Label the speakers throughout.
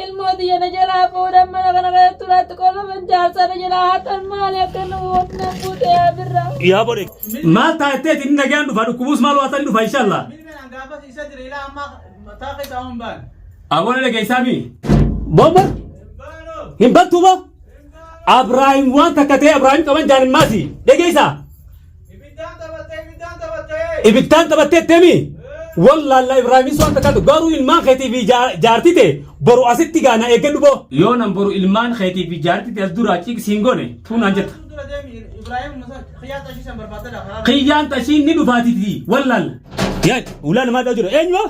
Speaker 1: ilmoo tiyya na jalaa fuudhan mana kana keessatti turaatti qolaman jaarsa na jalaa hatan maali akka nu na buute yaa birra. Yaa bode.
Speaker 2: Maal taatteeti inni nagaan dhufa dhukkubuus maal waatanii dhufa inshallah. Aboon ala keessaa mi? Bomba? Hin battuuma? Abraahim waan takka ta'e Abraahim qaban jaanin maati. Dhageessaa? Ibiddaan taphattee ibiddaan taphattee. Ibiddaan taphattee deemi. Wallaallaa Ibraahimis waan takkaatu garuu ilmaan keetii fi jaartii tee boru asitti gaana eeggadhu boo. Yoo nan boru ilmaan keetii fi jaartii tee as duraa ciq siin gone tuunaan jetta. Dura deemi Ibraahim Musa kiyyaan xashii san barbaadadha karaa. Kiyyaan xashiin ni dhufaatiti wallaalla. Yaad ulaa namaa dhaa jira eenyumaa?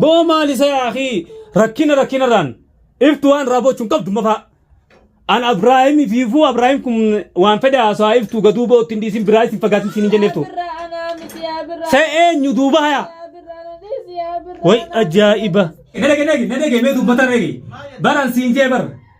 Speaker 2: Boo maal isa yaa akii rakkina rakkinarraan iftu waan irraa boochuun qabdu mafaa. An Abiraahim fiifuu Abiraahim kun waan fedhe haasawaa iftu gaduu bootti hin dhiisin biraa isin fagaatin siin hin jenneeftu. Sa eenyu duuba hayaa. Way ajaa'iba. Nadege nadege mee dubbatan rege. Baran siin jee bar.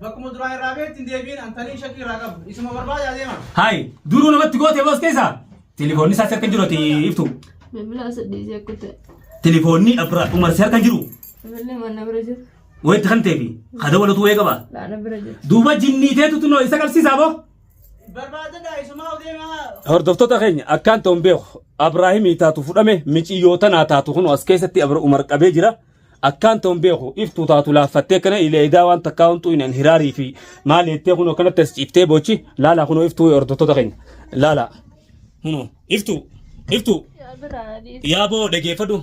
Speaker 3: Bakkuma duraa irraa beekti hin deebiin antanii shakkii irraa qabu. Isuma barbaadaa deema. Hayi duruu namatti
Speaker 2: goote boos keessa. Telefoonni isaas akka jiru ati iftu. Bilbilaa
Speaker 1: saddeetii akka ta'e. Telefoonni Abra
Speaker 2: Umar si harka jiru. Bilbilli mana
Speaker 1: bira jiru. Wayitti kan ta'eefi.
Speaker 2: Kada walatu wayii qaba. Laana bira jiru. Duuba
Speaker 1: jinnii teetu
Speaker 2: tunoo isa qabsiisaa boo. Barbaadadha
Speaker 3: isumaa deemaa. Hordoftoota keenya
Speaker 2: akkaan ta'uun beeku Abraahimii taatu fudhame miciyyoota naa taatu kun as keessatti Abra Umar qabee jira. akkaan ta'uun beeku iftuu taatu laaffattee kana ilee edaa waan takkaa huntuu hin hiraarii fi maal jettee kunoo kanatti as ciiftee boochi laalaa kunoo iftuu hordoftoota keenya laalaa kunoo iftuu iftuu yaa boo dhageeffadhu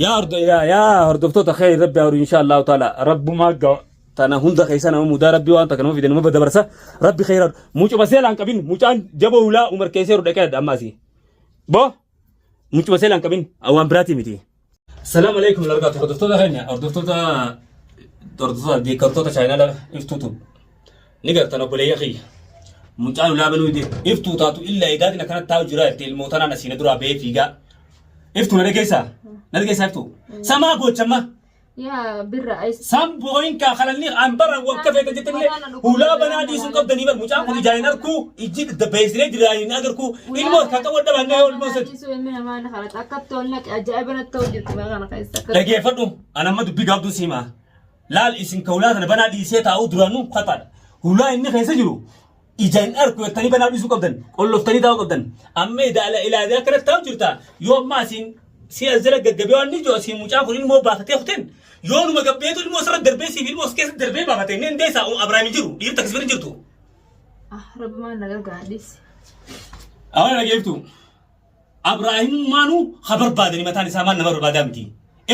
Speaker 2: yaa hordo- yaa- yaa hordoftoota kee rabbi haa horu inshaa allahu taala rabbumaa gawa tana hunda keessa nama mudaa rabbi waan takka nama fide nama dabarsa rabbi keessa mucuma seelaan qabin mucaan jaboo hulaa umar keessee dhaqee adda ammaasii boo Mucuma seela hin qabin waan biraatii miti. Salaam alaikum largaatu hordoftoota keenya hordoftoota hordoftoota deeggartoota chaayinaala iftuutu ni gartan obboleeyya kiyya. Mucaan ulaa banuu dide iftuu taatu illa eegaatiin akkana taa'u jira jettee ilmoo tanaan asiina duraa ba'ee fiigaa. Iftuu na dhageessaa? Na dhageessaa iftuu? Samaa goochammaa? yaa
Speaker 1: birra ayis San booyin kaa kalalli
Speaker 2: an bara wakka feeta jettillee hulaa banaa dhiisuun qabdanii bar mucaan kun ijaan hin arkuu ijji da beeksiree jiraan hin agarkuu ilmoo harkaa qabu adda baannee yoo ilmoo sadi. Dhiisuu ilmi namaa na kadhata
Speaker 1: akka toon naqe ajaa'iba natti ta'u jirti baa kana keessa akka Dhageeffadhu an
Speaker 2: amma dubbii gaabduu si himaa. Laal isin ka hulaa sana banaa dhiisee taa'uu duraanuu kataadha. Hulaa inni keessa jiru ija hin arku jettanii banaa dhiisuu qabdan qolloftanii taa'uu qabdan amma idaala ilaalee akkanatti taa'u jirta yoo ammaa siin si as jala gaggabee waan ni jiru siin mucaan kun ilmoo baafatee kuteen yoo numa gabbeetu ilmoo sirra darbee siif ilmoo keessa darbee baafatee inni hundee isaa Abrahaam hin jiru dhiirta akkasuma hin jirtu. Ah,
Speaker 1: rabbi maal na gargaara dhiisi.
Speaker 2: Awwan dhageeftu. Abraahimummaanuu ha barbaadani mataan isaa maal nama barbaadaa miti.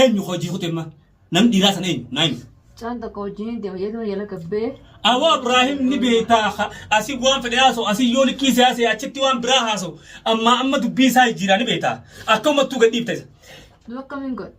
Speaker 2: Eenyu ka hojii kute imma? Namni dhiiraa sana eenyu? Naa himi. Caan tokko wajjiniin
Speaker 1: deema jedhu jala gabbee. Awoo Abraahim
Speaker 2: ni beektaa ka asii waan fedhe haasa'u asii yoo likkii isaa haasa'e achitti waan biraa haasa'u ammaa amma dubbii isaa jijjiiraa ni beektaa akka uummattuu gad dhiibta isa. Nu akkamiin
Speaker 1: godha?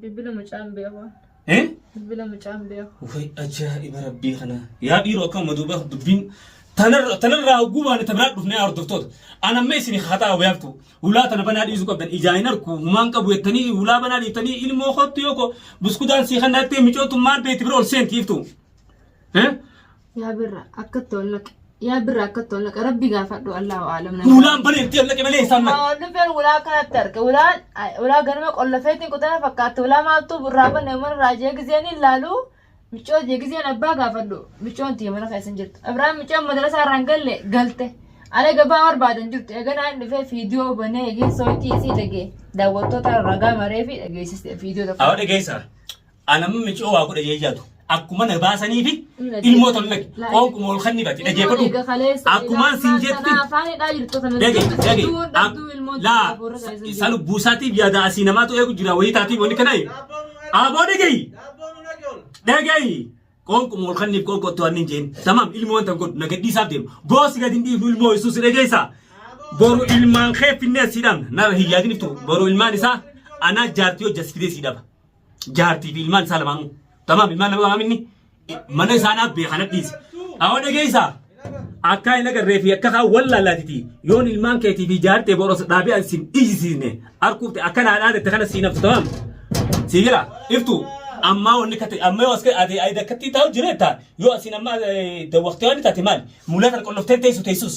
Speaker 2: Bilbila
Speaker 1: mucaan beeku. Eh? Bilbila mucaan beeku. Ufay ajaa'iba
Speaker 2: rabbii kana. Yaa dhiiroo akka amma duuba dubbiin tanarra- tanarraa hogguu baane tabiraa dhufnee yaa hordoftoota. An amma isin haxaa wayaaltu. Hulaa tana banaa dhiisuu qabdan. Ijaa hin arku humaan qabu jettanii hulaa banaa dhiiftanii ilmoo kottu yoo ko buskudaan sii kannattee micootu maal beeti bira ol seenti
Speaker 1: iftu. Eh? Yaa
Speaker 2: birra akka itti
Speaker 1: ol
Speaker 2: naqe. Yaa
Speaker 1: birra akka itti ol naqe. Rabbi gaafadhu Allahu aalam. Hulaan bareeddee ol naqe
Speaker 2: malee isaan naqe. Waan dhufeen ulaa akkanatti
Speaker 1: arge. Ulaan ulaa ganama qollofeetiin kutana fakkaatti. Ulaa maaltu irraa banne mana irraa jee gizeen hin laalu. Miccoo jee gizeen abbaa gaafadhu. Miccoon tiyya mana keessa hin jirtu. Abraan miccoon madrasaa irraa hin galle galte. Ala gabaa barbaadan jirtu. Eeganaa hin dhufee fiidiyoo banee eegee sooyitii isii dhagee. Daawwattoota ragaa maree fi dhageessiste fiidiyoo tokko. Awwa dhageessaa.
Speaker 2: Anamma micoo waa godha jee jaatu. Akkuma na baasaniifi ilmoo tolu lagi. Qoonquma ol kanni bati. Dhagee godhu. Akkumaan sin jetti. Dhage dhage. Laa isa lubbuu isaatiif yaada asii namaatu eegu jira wayii taatiif wanni kana. Aboo dhagayi. Dhagayi. Qoonquma ol kanniif qoonqoo otoo annin jeen. Tamam ilmoo wanta godhu na gadhiisaaf deema. Goosi gadi hin dhiifnu ilmoo yesuus dhageessaa. Boru ilmaan kee finnee siidhaan na hin yaadiniftu. Boru ilmaan isaa anaa jaartii hojjasiftee siidhaba. jaartii fi ilmaan isaa lamaanuu. Tamaam ilmaan lamaanuu inni mana isaa naaf bee kana dhiise. Awwa dhageessaa. Akkaa hin agarree fi akka haa wallaalaatiti yoon ilmaan keetii fi jaartee boros dhaabee an sin dhiisisne arkuufte akka naa dhaadette kana siin haftu tamaam. Sii jira iftu ammaa wanni kate amma yoo as kee ade ayda katti taa'u jireetta yoo asin amma dawwaqtee waan taate maali mulaa kana qolloftee teessu teessus.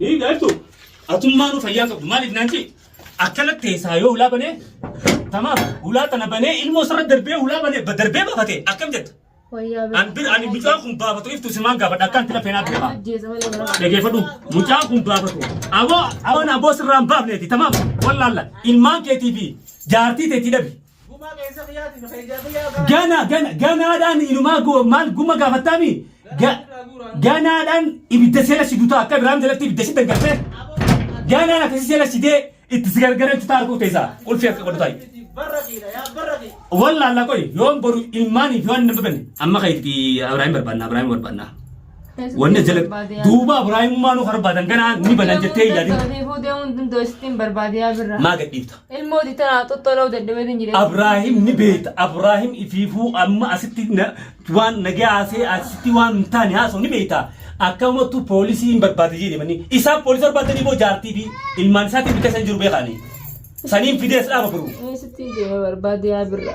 Speaker 2: Hii gaartuu atummaa nu fayyaan qabdu maaliif naan jee akkanatti teessaa yoo hulaa banee tamaaf hulaa tana banee ilmoo sarara darbee hulaa banee ba- darbee baafate akkam jetta Wayyaa bira. an bir ani mucaan kun baafatu iftu simaan gaafadha akkaan tila feenaa beekaa Ajjeesa malee bara. dhageeffadhu mucaan kun baafatu aboo aboo na aboo sirraan baafneeti tamaam wallaalla ilmaan keetii fi jaartii teetii dhabi Gumaa qeensa kiyyaatii fi keenyaa kiyyaa gahaa. Gana gana ganaadhaan inumaa go- maal guma gaafattaami Ga- ganaadhaan ibidda seera si dutaa akka Ibraahim jalatti ibidda si daggattee ganaan akkasii seera si dee itti si gargarachu taara koo teessaa ulfii akka qodhu taa'e. Barra kiidha yaa barra kiidha. Wallah Allah qoy yoon boru ilmaanii fi waan nama bane amma kayitti Ibraahim barbaanna Ibraahim barbaanna. Wanne jala duuba Ibraahimummaa nuuf barbaadan kana ni banan jettee hin yaadin. Ta'ee fuudhee hundi iddoo isittiin barbaadiyaa birra. Maa gadhiifta. Ilmoo ditanaa
Speaker 1: xoxxoloo dadhabeetiin jedhee. Abraahim ni beekta.
Speaker 2: Abraahim ifiifuu amma asitti na- waan nagaa haasee asitti waan hin taane haasoo ni beekta. Akkanumattu poolisii hin barbaade jedhe manni. Isaa poolisii barbaadanii boo jaartii fi ilmaan isaatiin bikka isaan jiru beekaani. Saniin fidee as dhaaba biruu. Isittiin deemee
Speaker 1: barbaadiyaa birra.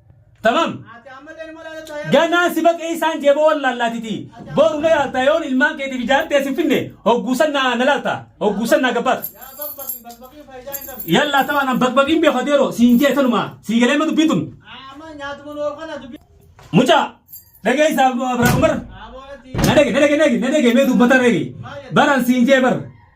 Speaker 2: Tamam. Ganaa si baqee isaan jeeboo wallaallaatiti. Boru na yaalta yoon ilmaan keetiif ijaartee si finne hogguusan na na laalta hogguusan na gabbaata. Yallaa tamaan an baqbaqiin beekaa deeroo siin jee tanumaa sii galee ma dubbii tun. Mucaa dhagee isaa Abiraam Umar na dhage na dhage na dhage na dhage mee dubbata dhage baran siin jee bar.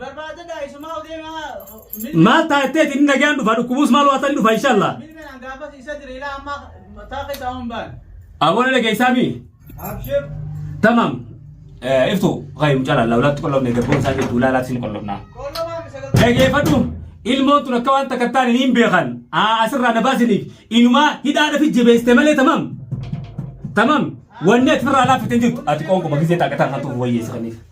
Speaker 2: Barbaadadha
Speaker 3: isumaa deemaa milki Maal
Speaker 2: taatee ittiin nagaan dhufa dhukkubuus maal waa ta'an dhufa inshallah. milki naan gaafas isa
Speaker 3: diriilaa amma mataa keessaa hin baane. Aboona dhageessaa
Speaker 2: mii? Abshir.
Speaker 3: Tamam.
Speaker 2: Eh, Iftu qayyum cala lawlaatti qollofne garboon isaa jirtu laalaatti hin qollofnaa. Qollobaa misala. Dhageeffadhu ilmoon tun akka waan takka taane hin beekan. Aa asirraa na baasiniif inumaa hidhaadhaaf jabeessite malee tamam. Tamam. Wanni ati firraa laaffite hin jirtu. Ati qoonquma gisee taaqataan kan tuuf wayyeessa kaniif.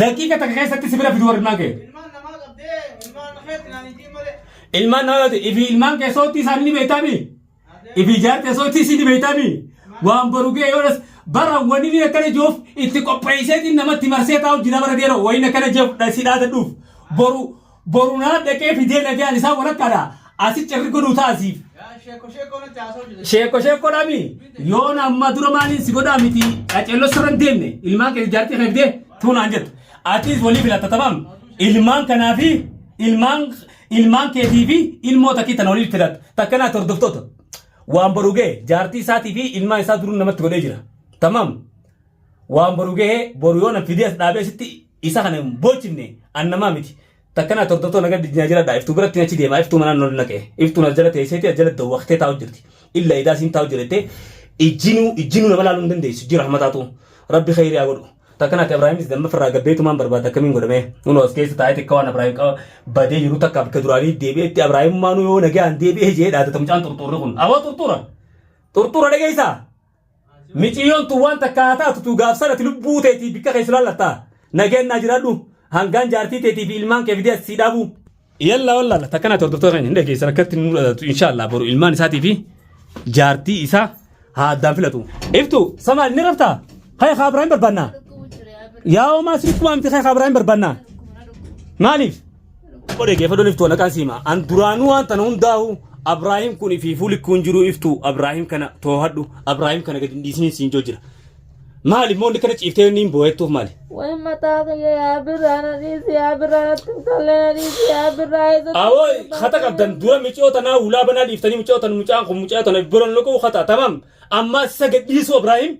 Speaker 2: Daqiiqa takka keessatti si bira fiduu ilmaan kee. Ilmaan namaa yoo ta'e ifi ilmaan kee soottii isaanii ni beektaami. Ifi ijaartee soottii isii ni beektaami. Waan boru ga'e yoo dhas bara wanni inni akkana jiruuf itti qopheesseetiin namatti marsee taa'u jira bara dheeroo wayii akkana jeef dhasii dhaadadhuuf boru Boru naa dhaqee fidee lafiyaan isaa walakkaadha. Asi cirri godhuu taasiif. Sheekko sheekkoo natti haasoo jira. Sheekko sheekko dhami. Yoon amma dura maaliin si godhaa miti. Qaceelloo sirra hin deemne. Ilmaan kee jaartii kee fidee tuunaan jettu. Atis walii filatta tamam. Ilmaan kanaa fi ilmaan ilmaan keetii fi ilmoo takkii tana walii filatta. Takka naati hordoftoota. Waan boru ga'e jaartii isaatii fi ilmaan isaa duruu namatti godhee jira. Tamam. Waan boru ga'e boru yoon fidee as dhaabee sitti isa kana hin boochifne an namaa miti takka naa tordotoo naga dijnaa jiradha iftuu biratti achi deemaa iftuu manaan nol naqe iftuun as jala teesseeti as jala dawwaktee taa'u jirti illa idaa siin taa'u jirette ijjinuu ijjinuu nama laaluu hin dandeessu jira hamataatu rabbi khayrii haa godhu takka naaka ibraahimis damma firraa gabbeetumaan barbaada akkamiin godhamee nunu as keessa taa'ee takka waan ibraahim qaba badee jiru takka bakka duraanii deebi'etti ibraahimummaanuu yoo nagaan deebi'ee jee dhaadata mucaan xurxuurri kun aboo xurxuura xurxuura dhageessaa Miciyyoon tun waan takka haa taatu tuu gaaf san ati lubbuu teetii bikka kee sulaallatta. Nageen naa jiraadhu. Hangaan jaartii teetii fi ilmaan kee fidee as sii dhaabuu. Yalla wallalla takkan ati hordoftoota keenya hin dhageessan akkatti nuu dhadatu insha Allah boru ilmaan isaatii fi jaartii isaa haa addaan filatu. Iftu samaal ni rafta kaya kaa biraa hin barbaanna yaa omaa sirikkumaa miti kaya kaa biraa hin barbaanna maaliif Tokko dhaggeeffadhu iftuu naqaan siima. An duraanuu waan tana hundaahu Abraahim kun fi fuuli kun jiru iftuu Abraahim kana toohadhu Abraahim kana gadi hin dhiisiniin siin joo jira. Maali immoo inni kana ciiftee inni hin boo'ettuuf maali? Way mataa kiyya
Speaker 1: yaa birraa na dhiisi yaa birraa natti hin tolle na dhiisi yaa birraa eessa Awoo hata
Speaker 2: qabdan dura micoo tanaa hulaa banaa dhiiftanii micoo tan mucaan kun mucaa tana biroon loquu hata tamam ammaa isa gad dhiisuu Abraahim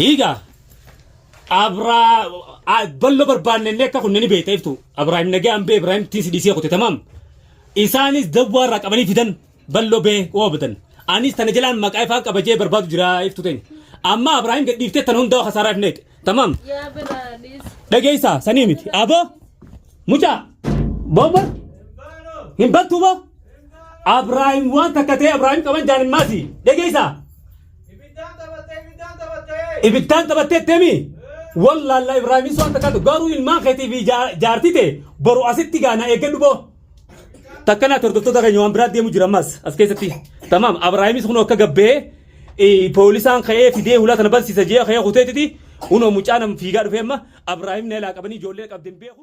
Speaker 2: Hiigaa abraa a- ballo barbaanne inni akka kunni ni beekta iftu abraahim nagee ambee ibraahim tiisi dhiisee kute tamaam isaanis dawwaa irraa qabanii fidan ballo bee oobadan anis tana jalaan maqaa ifaan qabajee barbaadu jira iftu teenya amma abraahim gadhiiftee tana hundaa kasaaraa ifneedhe Tamam.
Speaker 1: Dhageessaa sanii
Speaker 2: miti. Aboo mucaa boomba hin battuu boo. Abraahim waan takka ta'e Abraahim qaban jaan hin maasi. Dhageessaa. Ibiddaan taphattee temi. Wallaallaa Ibraahim waan takka ta'e garuu ilmaan keetii fi jaartii ta'e boru asitti gaana eeggadhu boo. Takkanaa hordoftoota keenya waan biraa deemu jira ammas as keessatti. Tamaam Abraahimis kun akka gabbee poolisaan ka'ee fidee hulaa tana bansiisa jee ka'ee kuteetiti kunoo mucaan fiigaa dhufee amma Abraahim na ilaa qabanii ijoollee qabdeen beeku.